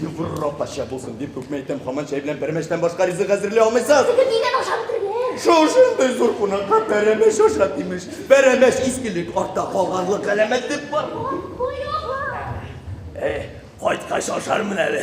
Югырра пача булсын дип күпме әйтәм, хаман чәй белән пәрмәчтән башка ризык әзерли алмыйсыз. Сезгә дигән ашап биргән. Шушындый зур кунакка пәрәмәч аша имеш. Пәрәмәч искелек артта калганлык галәмәт дип бар. Кайткач ашармын әле.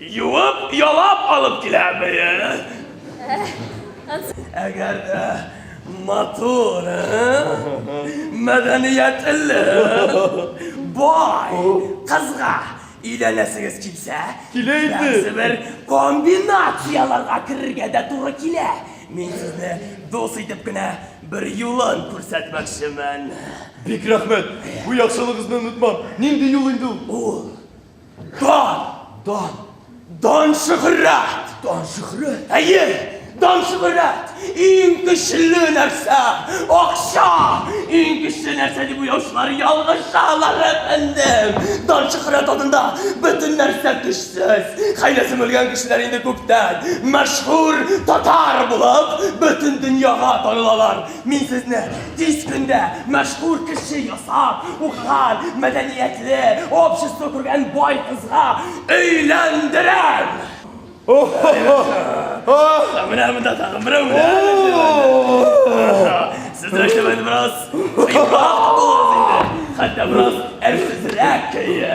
Юып, ялап алып киләме? Әгәр дә матур, мәдәниятле, бай кызга өйләнәсегез килсә, килә инде. Бер комбинацияләргә керергә дә туры килә. Мин сезне дус итеп кенә бер юлын күрсәтмәкчемен. Бик рәхмәт. Бу яхшылыгызны онытмам. Нинди юл инде ул? Ул Дан! Дан! Дан шөһрәт! Дан шөһрәт! Әйе! Дан шөһрәт! Иң көчле нәрсә! Акча! Иң көчле нәрсә дип уяучылар ялгышалар, әфәндем! Дан шөһрәт адында бөтен нәрсә көчсез. Хәйләсе белгән кешеләр инде күптән мәшһүр татар булып, бөтен дөньяга танылалар. Мин сезне тиз көндә мәшһүр кеше ясап, укыган, мәдәниятле, общество күргән бай кызга өйләндерәм! Менә монда тагын берәү менә. Сез рәшәмәне бераз кыйбат булыр инде. Хәтта бераз әрсезрәк көе.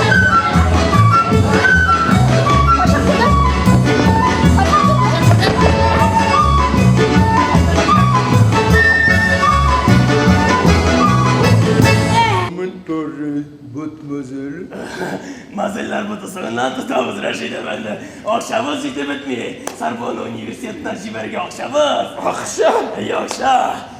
Мазыллар бу тусыгыннан тотабыз, Рәшид әфәнде. Акчабыз җитеп бетми. Сарбоны университетына җибәрергә акчабыз. Акча? Әйе, акча.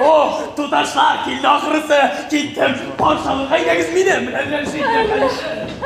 Ох, туташлар, килде ахрысы, киттем, патшалык әйдәгез минем белән яшик, яшик.